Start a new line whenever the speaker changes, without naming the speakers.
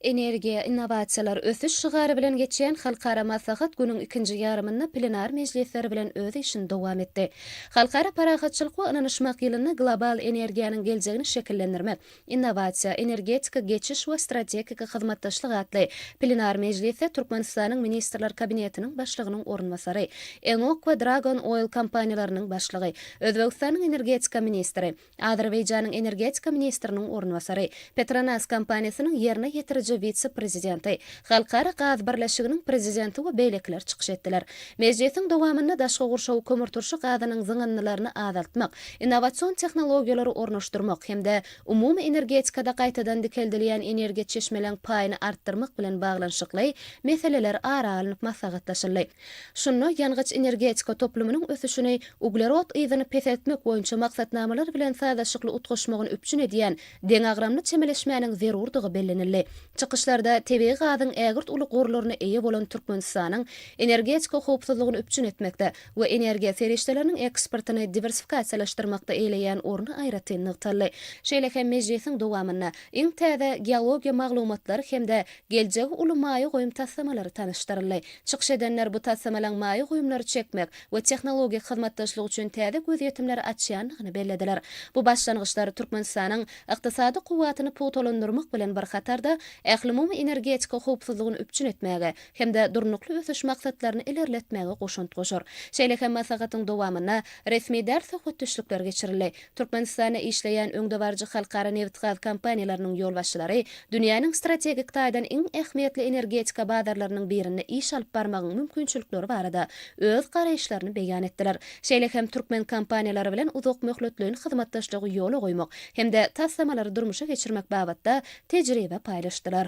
Energiýa, innowasiýalar, ösüş şygary bilen geçýän halkara maslahat günüň ikinji ýarymynda plenar mejlisleri bilen öz işini dowam etdi. Halkara parahatçylyk we ynanyşmak ýylynda global energiýanyň geljegini şekillendirmek, innowasiýa, energetika geçiş we strategik hyzmatdaşlyk atly plenar mejlisde Türkmenistanyň Ministrler Kabinetiniň Başlygynyň orunbasary, ENOK we Dragon Oil kompaniýalarynyň başlygy, Özbegistanyň energetika ministri, Azerbaýjanyň energetika ministriniň orunbasary, Petronas kompaniýasynyň ýerine ýetiriji wise-prezidenti, Halkara gaz birleşiginiň prezidenti we beýlekiler çykyş etdiler. Mejlisiň dowamynda daşky gurşawy kömürturşy gazynyň zyňyndylaryny azaltmak, innowasion tehnologiýalary ornaşdyrmak hem-de umumy energetikada gaýtadan dikeldilýän energiýa çeşmeleň paýyny artdyrmak bilen baglanyşykly meseleler ara alnyp maslahatlaşyldy. Şunda ýangyç-energetika toplumynyň ösüşini uglerod yzyny peseltmek boýunça maksatnamalar bilen sazlaşykly utgaşmagyny üpjün edýän deňagramly çemeleşmäniň zerurdygy bellenildi. Çykyşlarda tebigy gazyň ägirt uly gorlaryna eýe bolan Türkmenistanyň energetika howpsuzlygyny üpjün etmekde we energiýa serişdeleriniň eksportyny diwersifikasiýalaşdyrmakda eýeleýän orny aýratyn nygtaldy. Şeýle hem mejlisiň dowamynda iň täze geologiýa maglumatlary hem-de geljegi uly maýa goýum taslamalary tanyşdyryldy. Çykyş edenler bu taslamalaryň maýa goýumlary çekmek we tehnologik hyzmatdaşlyk üçin täze gözýetimleri açýandygyny bellediler. Bu başlangyçlar Türkmenistanyň ykdysady kuwwatyny pugtalandyrmak bilen bir hatarda, ählumumy energetika howpsuzlygyny üpjün etmäge hem-de Durnukly ösüş maksatlaryny ilerletmäge goşant goşar. Şeýle hem maslahatyň dowamynda resmi däl söhbetdeşlikler geçirildi. Türkmenistanda işleýän öňdebaryjy halkara nebitgaz kompaniýalarynyň ýolbaşçylary dünýäniň strategik taýdan iň ähmiýetli energetika bazarlarynyň birinde iş alyp barmagyň mümkinçilikleri barada öz garaýyşlaryny beýan etdiler. Şeýle hem türkmen kompaniýalary bilen uzakmöhletleýin hyzmatdaşlygy ýola goýmak hem-de taslamalary durmuşa geçirmek babatda tejribe paýlaşdylar.